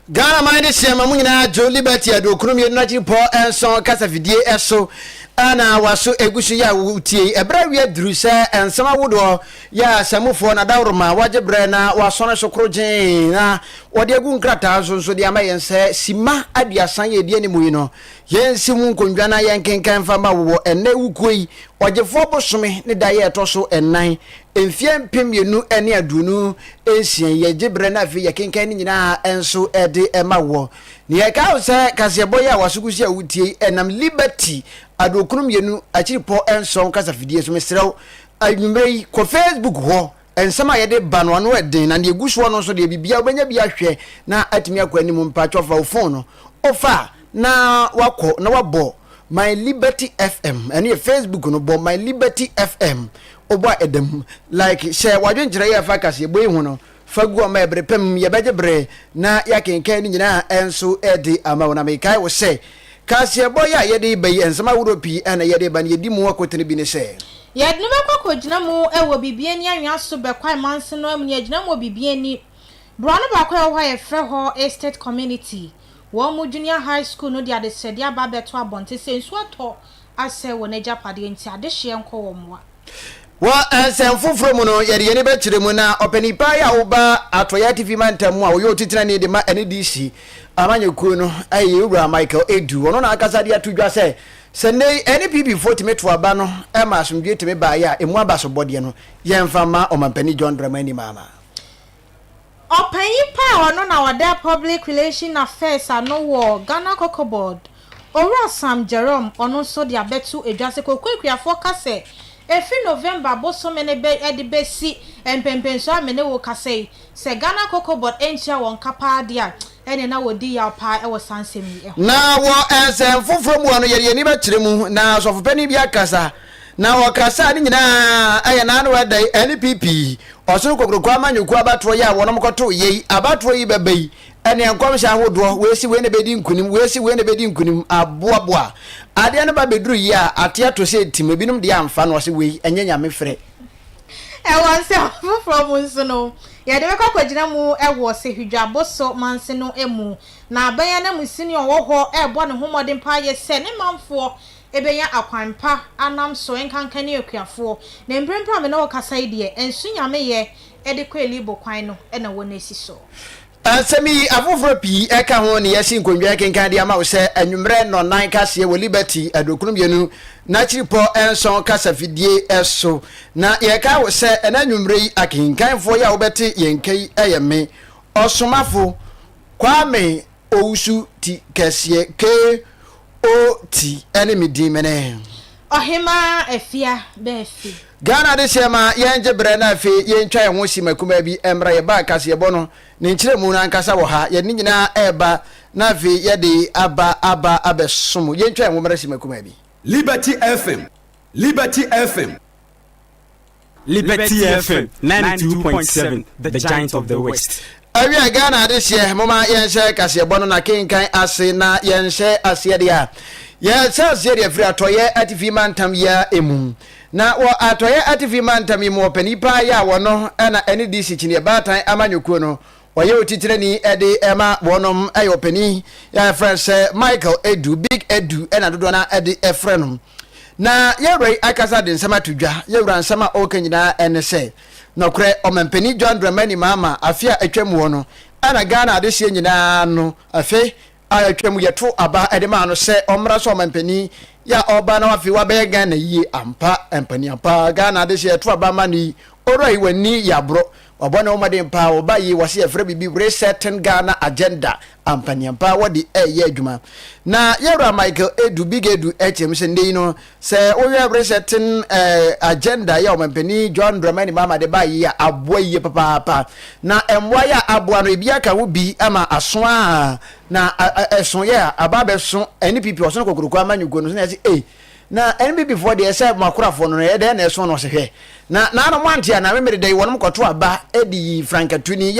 ghana man de hyɛ ma mu nyinaa dwo liberty aduokunu mmienu n'akyiripɔ nson kasafidie ɛso ɛna waso egu so yɛ a wotie ɛberɛ awia duru sɛ nsɛm awodoɔ yɛ a samufoɔ na dawuroma wagye berɛ na wasɔne so koro gyeen na wɔde agu nkrataa nso nso de ama yɛn sɛ sima aduasa yɛ edi anim yi no yɛn si mu nkonnwa na yɛn kenkan fa ma wɔ ɛnɛ wukuo yi ɔgyefoɔ bosome ne da yɛ ɛtɔ so ɛnan Mfeɛ mpem mmienu ne aduonu nsia yi, gye berɛ na afei yɛkenkan ne nyinaa nso de ma woɔ. Nea ɛka ho sɛ kaseɛbɔ yi a w'asokusi a wotie yi nam Liberty Aduokron Mmienu Akyiripɔ Nson kasafidie so. Mesrɛ wo, anwummerɛ yi, kɔ Facebook hɔ. Nsɛm a yɛde ba no, ano den, na nea ɛgu soɔ no nso deɛ, biribiara wobɛnya bi ahwɛ na atumi akɔ anim. Mpakyɛw, fa wo fon no, wofa a, na wakɔ na wabɔ my liberty fm ɛne yɛ facebook no bɔ my liberty fm ɔbɔ a ɛda mu like hyɛ wadwenkyerɛ yɛ fa kaseɛ bɔ yi ho no fa gu ɔma ɛbere pɛm yɛbɛgye berɛ na yɛakenkan no nyinaa ɛnso ɛde ama wo na mekae wo sɛ kaseɛbɔ yɛ a yɛde ba yi nsɛm ahoroɔ pii ɛna yɛde ba no yɛdi mu akotene bi ne sɛ Yɛde no bɛkɔ akɔgyina mu wɔ Biribi Ani Anwea so Bɛkwae Manse no amu no yɛagyina mu wɔ Biribi Ani Borɔno baako a ɛwɔ hɔ a yɛfrɛ hɔ Estate Community Wɔn mu Junior High School no de adesrɛdeɛ aba abɛto abɔnten sɛ nsuo atɔ asɛe wɔn agyapadeɛ nti adehyeɛ nkɔ wɔn mmoa. Wɔ nsɛm foforɔ mu no, yɛde yɛn ani bɛkyerɛ mu na ɔpanin paa yi a ɔba Atɔeɛ Atifi Mantam mu a ɔyɛ Otutenani de ma NDC amanyɔkuo no yɛ yɛn wura Michael Edu. Ɔno na ankasa de ato dwa sɛ, sɛ nnɛ yi NPP foɔ tumi to aba no ma asomdwoeɛ tumi baeɛ a, ɛmu abasobɔdeɛ no yɛmfa mma Ɔmampanin John Dramani Mahama. Ɔpanyin pa a ɔno na ɔda Public Relations Affairs ano wɔ Ghana Cocoa Board, Owura Sam Jerome, ɔno nso de abɛto dwa sɛ cocoa akuafoɔ ka sɛ efi November bosome no bɛ de bɛsi mpɛmpɛnsoɔ a me ne wo kasa yi, sɛ Ghana Cocoa Board antua wɔn ka paa deɛ a, ɛneɛ na wɔdi yaw paa wɔ saa nsɛm yi ho. Na wɔ nsɛm foforɔ mu no, yɛde yɛn ani bɛkyerɛ mu na Ɔsɔfopanin bi akasa. Na wɔkasa ne nyinaa yɛ n'ano ɛdɛ NPP ɔsono kokroko amanyɔkuo abatoɔ yi a wɔnom kɔtoo yɛ yi abatoɔ yi bɛba yi ɛneɛ nkɔmhyɛ ahodoɔ wei se wei na bɛdi nkunim wei se wei na bɛdi nkunim aboaboa adeɛ no ba bɛduru yi a ateɛ to sɛ tim ebinom deɛ amfa no ɔse wei ɛnyɛ nyame frɛ Ɛwɔ nsɛm foforɔ mu nso no, yɛde bɛkɔ akɔgyina mu wɔ Sehwi-Dwaboso manse no mu, na aban ananmusini a ɔwɔ hɔ rebɔ ne ho mmɔden paa yɛ sɛ ne manfoɔ bɛnya akwan pa anam so, nkanka ne akuafoɔ. Na mprempren a me ne wo rekasa yi deɛ, nsu nyameyɛ de kɔ Elibo kwan no na wɔasi so. Nsɛm yi, afoforɔ pii ka ho na yɛasi nkondwa rekenkan de ama wo sɛ anwummerɛ nnɔnnan kaseɛ wɔ Liberty Adurokunu Mmienu n'akyiripɔ nson kasafidie so. Na yɛkae wo sɛ, ɛnnɛ anwummerɛ yi akenkanfoɔ yi a wobɛte yɛn nka yi yɛ me, Ɔsomafo Kwame, Owusu ti kɛseɛ KOT ne me din mene. Ɔhemaa Afia bɛ afi. Ghana adehyeɛ ma yɛn gye berɛ na afei yɛn twa yɛn ho si ma kumaa bi mmra yɛ bag kaseɛbɔ no ne nkyerɛmu no ankasa wɔ ha yɛde ne nyinaa ɛreba na afei yɛde aba aba abɛsom yɛn twa yɛn ho mmra si ma kumaa bi. Liberty FM Liberty FM. Liberty FM 92.7 The Giant of the West. Awia Ghana adehyeɛ moma yɛnhyɛ kaseɛbɔ no na kenkan ase na yɛnhyɛ aseɛ deɛ a yɛhyɛ aseɛ deɛ firi atɔyɛ atifi mantam yi a mu na wɔ atɔyɛ atifi mantam yi mu ɔpani paa yɛ a wɔno ɛna ɛne DC kyiniɛ baatan amanyɔkuo no Ɔyɛ otitrenni de ma wɔnom. Ɛyɛ ɔpanin a yɛfrɛ no sɛ Michael Edu, Big Edu na dodoɔ no ara de frɛ no. Na yɛwura yi akasa de nsɛm ato dwa. Yɛwura nsɛm a ɔreka nyinaa ne sɛ, nɔkorɛ Ɔmampanin John Dramani Mahama afe a atwam hɔ no, ɛna Ghana adehyeɛ nyinaa no, afe a atwam yɛto aba de maa no sɛ ɔmmra sɛ ɔmanpanin yɛ a ɔba na wafei wabɛyɛ Ghana yie ampa ampanin ampa Ghana ade sɛ yɛto aba ma no yi ɔwura yi w'ani yɛ aborɔ wabɔ ne ho mmɔden paa ɔba yi wɔse yɛfrɛ biribi resetting Ghana agenda ampanin ampa wɔde ɛyɛ adwuma na yɛwura Michael Edu Big Edu kyerɛ mu sɛ nnɛ yi no Sɛ wohwɛ bere hyɛten agenda yi a Ɔmanpanin John Dramani Mahama de bae yi a, aboa yiye papaapa. Na mmoae a aboa no, ebi aka ho bi ama aso a na ɛso yɛ a, aba abɛso NPP ɔsono kokuroko amanyɔkuo no so na yɛse ei, na NPP foɔ deɛ sɛ mo akorafoɔ no no ɛdɛn na ɛso no? Ɔse hwɛ, na n'ano moante a na me mede dɛn wɔnom kɔto aba de yi Frank Atuni.